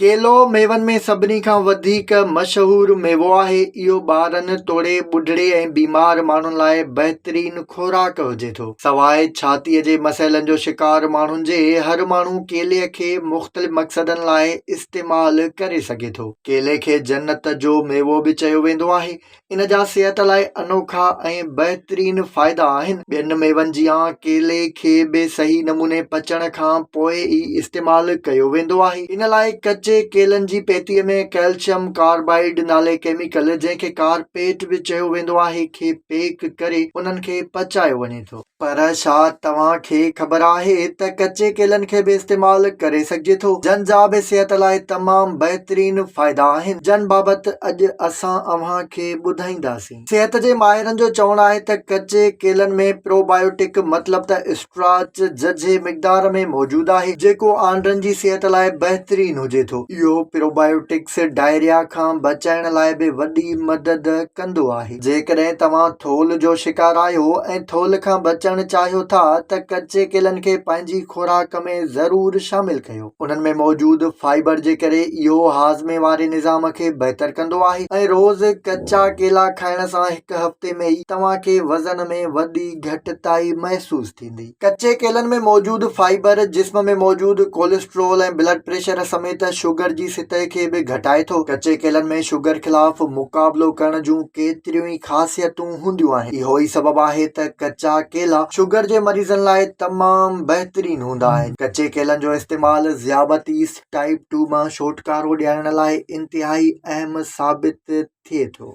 ڪيلو ميون ۾ سڀني کان وڌيڪ مشهور ميوو آهي. اهو ٻارن توڙي ٻڍڙي ۽ بيمار ماڻهن لاء بهترين خوراڪ هجي ٿو. سواء ڇاتيء جي مسئلن جو شڪار ماڻهن جي، هر ماڻهو ڪيلي کي مختلف مقصدن لاء استعمال ڪري سگهي ٿو. ڪيلي کي جنت جو ميوو به چيو ويندو آهي. ان جا صحت لاء انوکا ۽ بهترين فائدا آهن. ٻين ميون جيان ڪيلي کي به صحيح نموني پچڻ کان پوء ئي استعمال ڪيو ويندو آهي. ان لاء ڪچي ڪيلن جي پيتي ۾ ڪئلشم ڪاربائيڊ نالي ڪيميڪل جنهن کي ڪارپيٽ به چيو ويندو آهي کي پيڪ ڪري انهن کي پچايو وڃي ٿو. پر ڇا توهان کي خبر آهي ته ڪچي ڪيلن کي به استعمال ڪري سگهجي ٿو جن جا به صحت لاء تمام بهترين فائدا آهن جن بابت اڄ اسان اوهان کي ٻڌائينداسين صحت جي ماهرن جو چوڻ آهي ته ڪچي ڪيلن ۾ پروبايوٽڪ مطلب ته اسٽراچ ججهي مقدار ۾ موجود آهي جيڪو آنڊن جي صحت لاء بهترين هجي ٿو اهو پروبايوٽڪس ڊائريا کان بچائڻ لاء به وڏي مدد ڪندو آهي. جيڪڏهن توهان ٿولهه جو شڪار آهيو ۽ ٿولهه کان بچڻ چاهيو ٿا ته ڪچي ڪيلن کي پنهنجي خوراڪ ۾ ضرور شامل ڪيو. انهن ۾ موجود فائبر جي ڪري اهو هاضمي واري نظام کي بهتر ڪندو آهي ۽ روز ڪچا ڪيلا کائڻ سان هڪ هفتي ۾ ئي توهان کي وزن ۾ وڏي گهٽتائي محسوس ٿيندي. ڪچي ڪيلن ۾ موجود فائبر جسم ۾ موجود ڪوليسٽرول ۽ بلڊ پريشر سميت شگر جي سطح کي به گهٽائي ٿو. ڪچي ڪيلن ۾ شگر خلاف مقابلو ڪرڻ جون ڪيتريون ئي خاصيتون هونديون آهن. اهو ئي سبب آهي ته ڪچا ڪيلا شگر جي مريضن لاء تمام بهترين هوندا آهن. ڪچي ڪيلن جو استعمال ذيابطيس ٽائيپ ٽو مان ڇوٽڪارو ڏيارڻ لاء انتهائي اهم ثابت ٿئي ٿو.